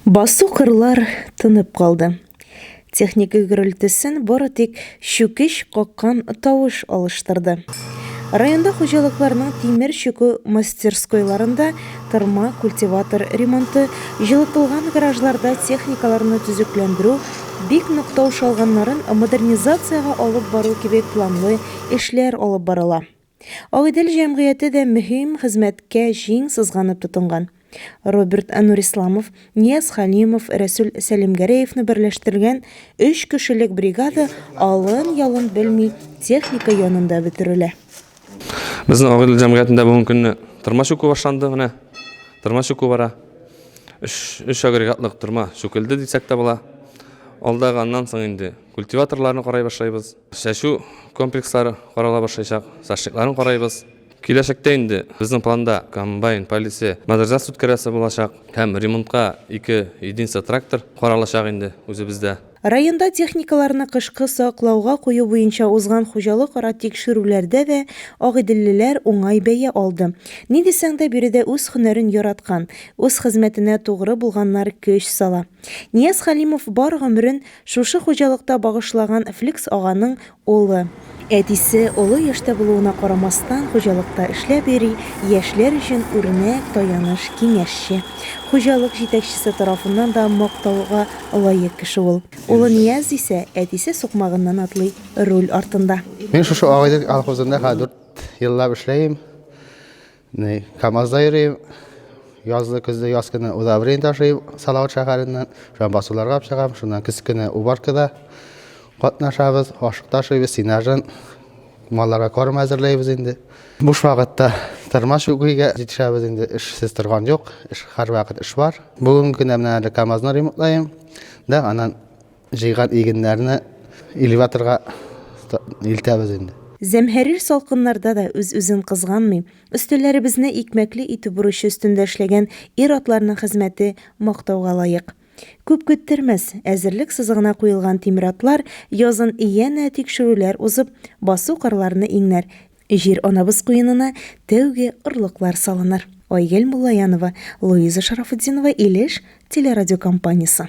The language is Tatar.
Басу кырлар тынып калды. Техника гөрелтесен бары тик чүкеч каккан тавыш алыштырды. Районда хуҗалыкларның тимер чүкү мастерскойларында тырма, культиватор ремонты, җылытылган гаражларда техникаларны төзекләндерү, бик нык тавыш алганнарын модернизациягә алып бару кебек планлы эшләр алып барыла. Агыйдел җәмгыяте дә мөһим хезмәткә җиң сызганып тотынган. Роберт Нурисламов, Нияз Хәлимов, Рәсүл Сәлимгәрәевны берләштергән өч кешелек бригада алын-ялын белми техника янында бөтерелә. Безнең Агыйдел җәмгыятендә бүген көнне тырма чүкү башланды, менә тырма чүкү бара. Өч, өч агрегатлык тырма чүкелде дисәк тә була. Алдагы, аннан соң инде культиваторларны карай башлыйбыз. Чәчү комплекслары карала башлыйчак, зашликларын карайбыз. Киләчәктә инде безнең планда комбайн полисы модернизация үткәрәсе булачак һәм ремонтка ике единица трактор каралачак инде үзебездә. Районда техникаларны кышкы саклауга кую буенча узган хуҗалык-ара тикшерүләрдә дә агыйделлеләр уңай бәя алды. Ни дисәң дә, биредә үз һөнәрен яраткан, үз хезмәтенә тугры булганнар көч сала. Нияз Хәлимов бар гомерен Шушы хуҗалыкта багышлаган Фликс аганың улы. Әтисе олы яшьтә булуына карамастан, хуҗалыкта эшләп йөри, яшьләр өчен үрнәк, таяныч, киңәшче. Хуҗалык җитәкчесе тарафыннан да мактауга лаек кеше ул. Улы Нияз исә әтисе сукмагыннан атлый, руль артында. Мин шушы Агыйдел колхозында хәзер дүрт еллап эшләйм. Ни, КАМАЗда йөрим. Язлы көзле яз көне удобрение ташыйм Салават шәһәреннән. Шуңа басуларга алып чыгам. Шуннан көз көне уборкада катнашабыз. Ашык ташыйбыз, сенажын. Малларга корм әзерләйбез инде. Буш вакытта тырмаш үгүгә җитешәбез инде. Эшсез торган юк. Эш һәрвакыт эш бар. Бүген генә менә әле КАМАЗны ремонтлаем. Да, аннан Җыйган игеннәрне элеваторга илтәбез инде. Зәмһәрир салкыннарда да үз-үзен кызганмый, өстәлләребезне икмәкле итү бурычы өстендә эшләгән ир-атларның хезмәте мактауга лаек. Күп көттермәс, әзерлек сызыгына куелган тимератлар язын янә тикшерүләр узып, басу-кырларны иңнәр, җир-анабыз куенына тәүге орлыклар салыныр. Айгөл Муллаянова, Луиза Шарафутдинова, Илеш телерадиокомпаниясе.